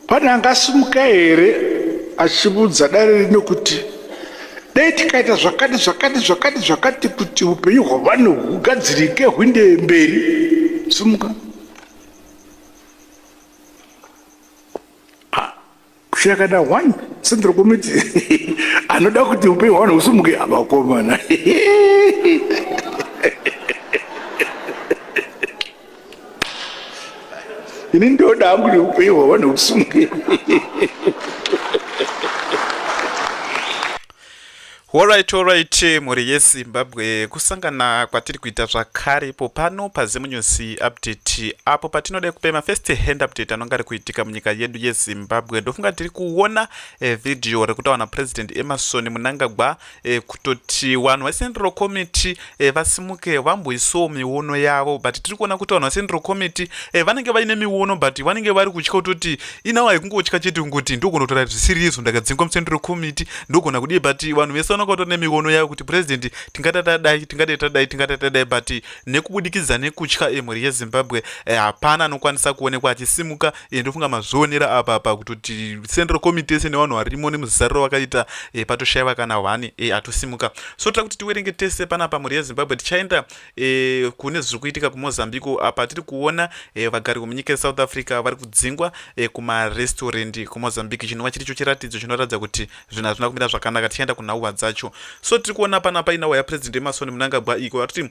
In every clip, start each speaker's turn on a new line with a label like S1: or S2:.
S1: Pane angasimuka here achivudza dare rino kuti dai tikaita zvakati zvakati zvakati zvakati kuti upenyu hwevanhu hugadzirike hwinde mberi simuka kushakada one sendero komiti anoda kuti upenyu hwavanhu husumuke havakomana ini ndoda hangu kuti upenyu hwavanhu husumuke
S2: Horaiti horaiti mhuri yezimbabwe kusangana kwatiri kuita zvakare ipo pano pazimunews update apo patinoda kupa mafirst hand update anonge ari kuitika munyika yedu yezimbabwe ndofunga tiri kuona eh, vhidhiyo rekutaura napresident emarson munangagwa eh, kutoti vanhu vecenral committee e, vasimuke vamboisawo miono yavo but tiri kuona kuti vanhu vasendro committee e, vanenge vaine miono but vanenge vari kutya kutoti inawo haikungotya chete kungoti ndogona kutora zvisiri izvo ndakadzingwa musendro committee ndogona kudii but vanhu vese vanonga vatori nemiono yavo kuti president tingada tadai tingada tadai tingada tadai but nekubudikidza nekutya emhuri yezimbabwe e, hapana anokwanisa kuonekwa achisimuka e, ndofunga mazvionera apa apa kutoti central committee ese nevanhu varimo nemuzariro vakaita e, patoshaiva kana hwani e, atosimuka so tira kuti tiwerenge tese panapa mhuri yezimbabwe tichaenda e, kune zviri kuitika kumozambique apa tiri kuona e, vagari vemunyika yesouth africa vari kudzingwa e, kumarestaurant kumozambique chinova chiri cho chiratidzo chinoratidza kuti zvinhu hazvina kumira zvakanaka tichaenda kunhauwa dzacho so tiri kuona panapa inhauwa yapresident emasoni munangagwa iko vatoti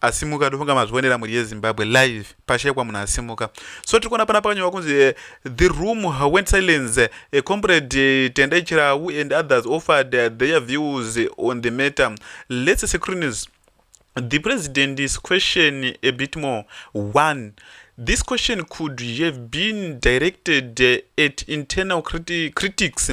S2: asimuka ndofunga mazvionera mhuri yezimbabwe live pashekwa munhu asimuka so tiri kuona pana pakanyorwa kunzi eh, the room went silence eh, comrade eh, tendai chirau and others offered their views on the matter let's secruniz the president is question a bit more one this question could have been directed at internal criti critics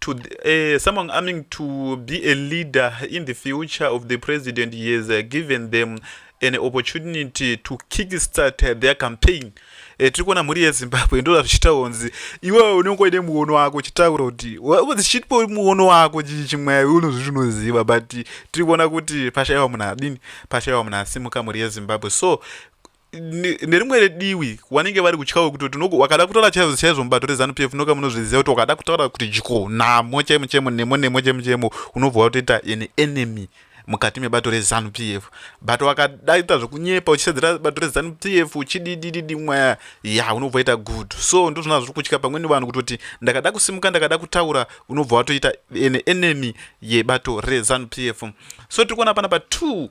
S2: to uh, someone aiming to be a leader in the future of the president he has uh, given them an opportunity to kickstart uh, their campaign uh, tiri kuona mhuri yezimbabwe ndoda zvichitaura kunzi iwewe unenge uine muono wako uchitaura kuti zichitipo muono wako chii chimwai unozviti unoziva but tiri kuona kuti pashaiwa munhu adini pashaiwa munhu asimuka mhuri yezimbabwe so nerimwe rediwi wanenge vari kutyawo kuti wakada kutaura chaizvo chaizvo mubato rezanu p f noka munozviziva kuti wakada kutaura kuti dyo namo chaimo chaimo nemo nemo chaimo chaimo unobva watoita an enemy mukati mebato rezanu p f but wakadaita zvekunyepa uchisedzera bato rezanu p f uchididididi mwaya ya unobva waita good so ndozvona zviri kutya pamweni vanhu kutoti ndakada kusimuka ndakada kutaura unobva watoita an enemy yebato rezanu p f so tiri kuona pana pa two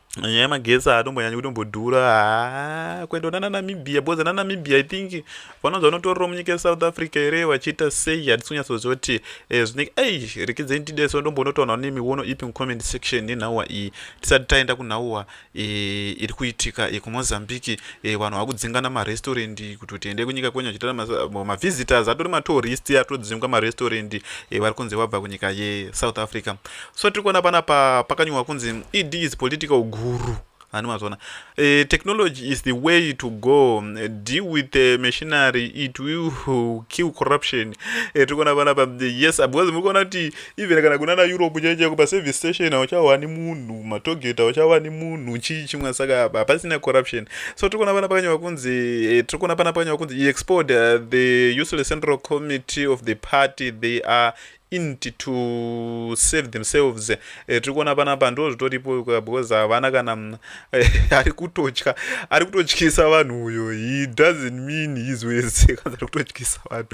S2: nyaya yemagetsi haatombonyanyi kutombodhura haa kuenda kuna nanamibia because nanamibia i think vanonzi vanotorero munyika yesouth africa here vachiita sei hatisi kunyatsoziva kuti eh, zvinenge ei rekedze nitideso ndombonotaona ne miono ipi mucomment section nenhauwa iyi tisati taenda kunhauwa eh, iri kuitika yekumozambique eh, vanhu vakudzingana marestaurant kuti tiende kunyika kwenyu achiita mavisitors atori matourist atodzingwa marestaurant vari kunzi vabva kunyika yesouth africa so tiri kuona pana pa pakanyorwa kunzi ed is political guru ani mazvona uh, eh, technology is the way to go uh, deal with the eh, machinery it will kill corruption uh, tiri kuona pana pa yes because muri kuona kuti even kana kunana europe chai chaiko paservice station hauchawani munhu matogeta hauchawani munhu chii chimwe saka hapasina corruption so tiri kuona pana pakanyorwa kunzi uh, tiri kuona pana pakanyorwa kunzi he export uh, the useless central committee of the party they are int to save themselves eh, tiri kuona panapa ndo zvitoripo because havana kana mm, eh, ari kutotya ari kutotyisa vanhu uyo he doesn't mean his ways kanzi ari kutotyisa vanhu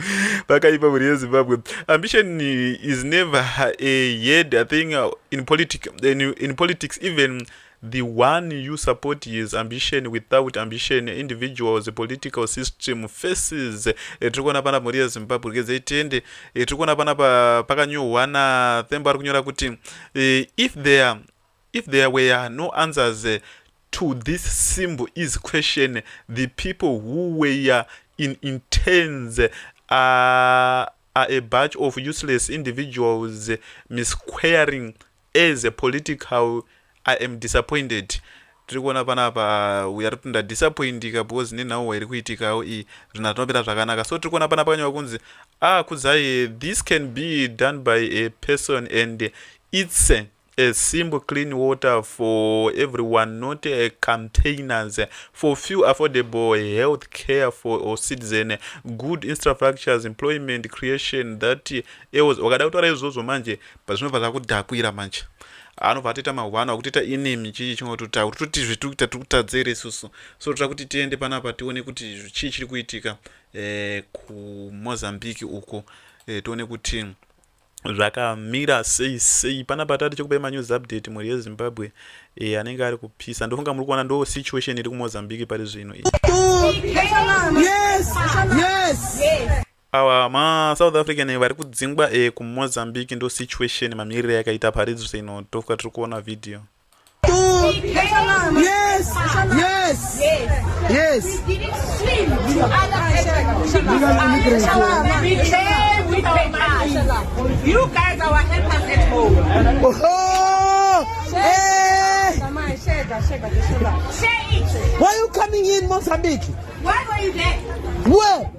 S2: vakaipa mhuri yezimbabwe ambition is never a head i think uh, in, politic, in, in politics even The one you support his ambition without ambition individuals political system faces eh, tiri kuona pana mhuri yezimbabwe rikedzai tende eh, tiri kuona pana pakanyorwa nathembo ari kunyora kuti eh, if there if there were no answers to this symbol is question the people who were in intends are, are a bunch of useless individuals misquaring As a political I am disappointed tiri kuona panapa uya rikuti ndadisappointika because nenhau wairi kuitikawo iyi zvinhu hazvinopera zvakanaka so tiri kuona panapa kanyewa kunzi ah kudzai this can be done by a person and its a, a simple clean water for everyone not a containers for few affordable health care for or citizen good infrastructures employment creation that eos wakada kutaura izvozvo manje But zvinobva zvakudhakwira manje anobva atoita mahwana akutoita enemy chii chingototaura kuti toti zvitukuita tiri kutadza here isusu so toda kuti tiende panapa tione kuti chii chiri kuitika eh, kumozambique uko eh, tione kuti zvakamira sei sei panapa tati chekupai manews update mhuri yezimbabwe e, anenge ari kupisa ndofunga muri kuona ndo situation iri kumozambique pari zvino iyi yes. yes. yes. Awa ma South African vari kudzingwa e ku Mozambique ndo situation mamirire yakaita paridzo sino tofuka tiri kuona video. Yes. Yes. Yes.
S3: You guys are our helpers at home. Oh.
S4: Hey. Why are you coming in Mozambique? Why were you
S3: there? Where?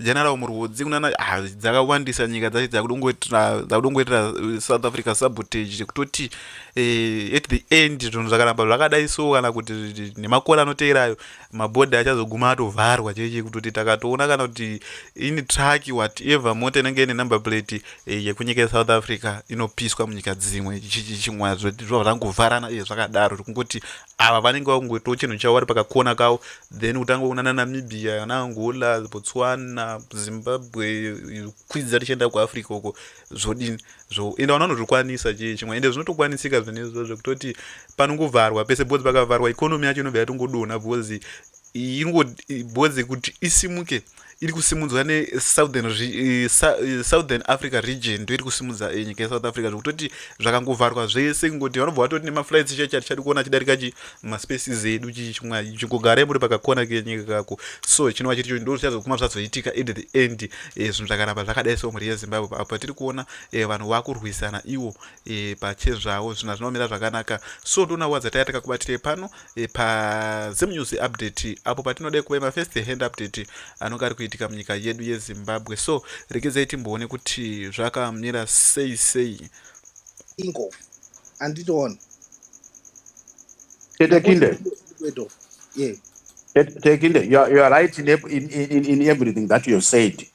S2: general murwudzi kunana ah, dzakawandisa nyika dzacho dzakudongoitira uh, south africa sabotage chekutoti eh, at the end zvinhu zvakaramba zvakadai so kana kuti nemakore anoteerayo mabhodha achazoguma atovharwa chee chekutoti takatoona kana kuti ini truck whatever mota inenge ine number plate eh, yekunyika yesouth africa inopiswa munyika dzimwe chimwa zvova zvangovharana iye zvakadaro zvekungoti ava vanenge vakungoitawo chinhu chavo vari pakakona kavo then kutanga kunana namibia ana angola botswana zimbabwe kwidza tichienda kuafrica uko zvodini zvo ende vana vanozvikwanisa chii chimwe ende zvinotokwanisika zvinezvo zvekutoti panongovharwa pese bcause pakavharwa ikonomi yacho inobva yatongodonha bcause ingo boze kuti isimuke iri kusimudzwa nesouthern eh, eh, southern africa region ndoiri kusimudza eh, nyika yesouth africa zvekutoti zvakangovharwa zvese kungoti vanobva vatoti nemaflights chaicha tichadi kuona chidarika chi maspaces edu chichimwa chingogare muri pakakona kenyika kako so chinova chiri cho ndo chichazokuma zvazoitika at the end zvinhu zvakaramba zvakadai so mhuri yezimbabwe apo patiri kuona vanhu vakurwisana iwo pachezvavo zvinhu zvinomira zvakanaka so ndoona wadza taiya takakubatirei pano e, pazim news update apo patinode kuve mafirst hand update anonge ari kuitika munyika yedu yezimbabwe so regedzai timboone kuti zvakamira sei sei ingo
S5: anditoona
S1: tete kinde yeah. Tekinde, you are, you are right in, in, in, in everything that you have said.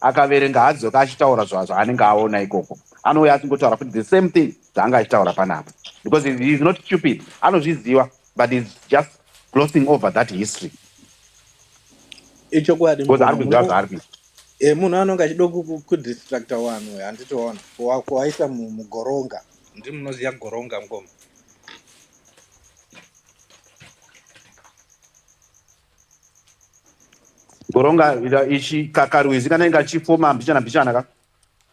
S1: akaverenga haadzoke achitaura zvaanenge aona ikoko anouya achingotaura futi the same thing zvaanga achitaura panapa because he is not stupid anozviziva but heis just glossing over that history
S5: ichokwadi because ari kuziva zvaari kuita
S1: e munhu
S5: anonge achida kudistracta wanhu handitoona kuwaisa mugoronga ndi munoziva goronga ngoma
S1: Goronga ichi kakarwizi kana inga chifoma mbichana mbichana ka.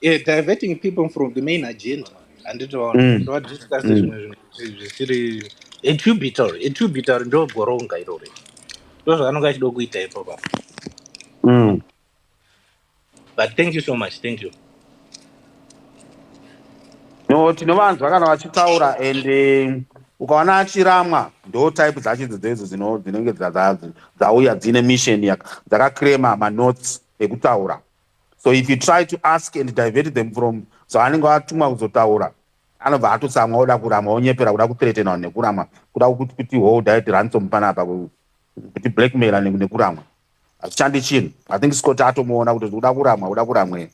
S1: Yeah, diverting
S5: people from the main agenda. And it was mm. not discussed mm. zvisiri etubitor etubitor ndo goronga irori. Ndozvaanonga achida kuita ipo pa. Mm. But thank you so much. Thank you.
S1: No, tinovanzwa kana vachitaura and eh, ukaona achiramwa ndo type dzacho idzo dzedzo dzino- dzinenge dza- dza- dzauya dzine mission yaka- dzakaclaima manotes ekutaura so if you try to ask and divert them from zvaanenge atumwa kuzotaura anobva atotsamwa oda kuramwa onyepera kuda kuthreatena vanhu nekuramwa kuda kuti kuti hold it ransom panapa ku- kuti blackmaila ne- nekuramwa Hachishandi chinhu. I think Scott atomuona kuti kuda kuramwa, kuda kuramwe.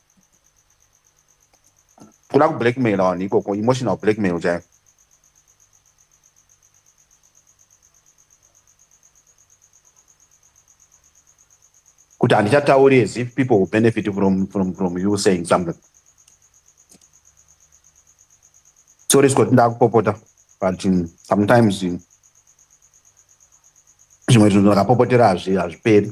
S1: Kuda ku blackmail on ikoko, emotional blackmail chaiyo. Kuti handichatauri as if people will benefit from, from, from you saying something. Sorry Scott, ndakupopota. but um, sometimes um, zvimwe zvinhu ndakapopotera hazviperi